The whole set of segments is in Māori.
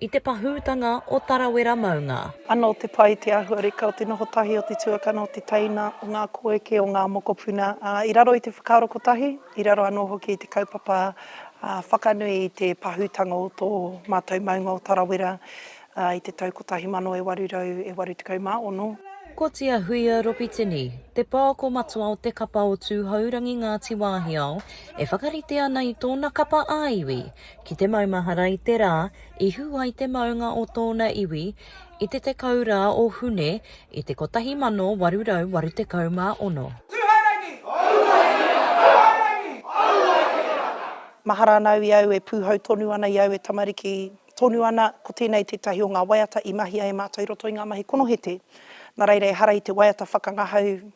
I te pahūtanga o Tarawera maunga. Anō te pai, te āhuareka o te noho tahi o te tuakana, o te teina, o ngā koeke, o ngā mokopuna, ā, i raro i te whakaaro kotahi, i raro anō hoki i te kaupapa whakanui i te pahūtanga o tō mātou maunga o Tarawera i te tau 1886. Ko Tia Huia Ropitini, te pouako matua o te kapa o Tūhourangi Ngāti Wāhiao, e whakarite ana i tōna kapa ā-iwi, Ki te maumahara i te rā i hū ai te maunga o tōna iwi, i te 10 rā o Hune i te 1886. Tūhourangi! Tūhourangi! Mahara ana au i au e pūhau tonu ana i au e tamariki tonu ana, ko tēnei tētahi o ngā waiata i mahia e mātou i roto i ngā mahi konohete. Nā reira ehara i te waiata whakangahau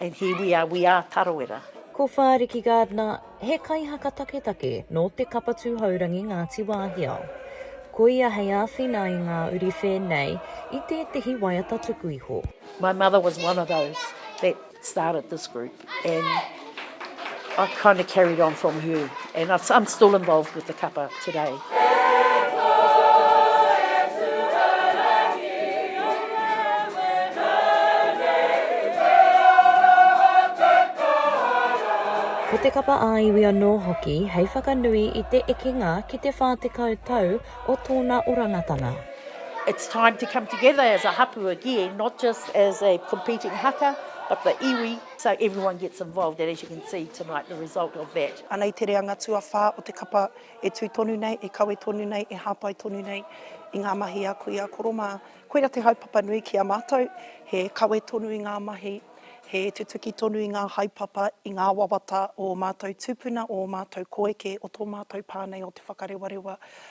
And here we are, we are Tarawera. Ko Whāriki Gardner, he kaihaka taketake nō te Kapa Tūhourangi Ngāti Wāhiao. Ko ia hei āwhina i ngā uri whēnei i tētehi waiata tuku iho. My mother was one of those that started this group and. I kind of carried on from her, and I'm still involved with the kapa today. Ko te kapa ā-iwi anō hoki hei whakanui i te ekenga ki te 40 tau o tōna orangatanga. It's time to come together as a hapu again, not just as a competing haka, but the iwi So everyone gets involved and as you can see tonight the result of that. Anei te reanga tuawhā o te kapa e tū tonu nei, e kawe tonu nei, e hāpai tonu nei i ngā mahi a kui a koro mā. Koira te haepapa nui ki a mātou, he kawe tonu i ngā mahi, he tutuki tonu i ngā haepapa, i ngā wawata o ō mātou tūpuna, o ō mātou koeke, o tō mātou pā nei o Te Whakarewarewa.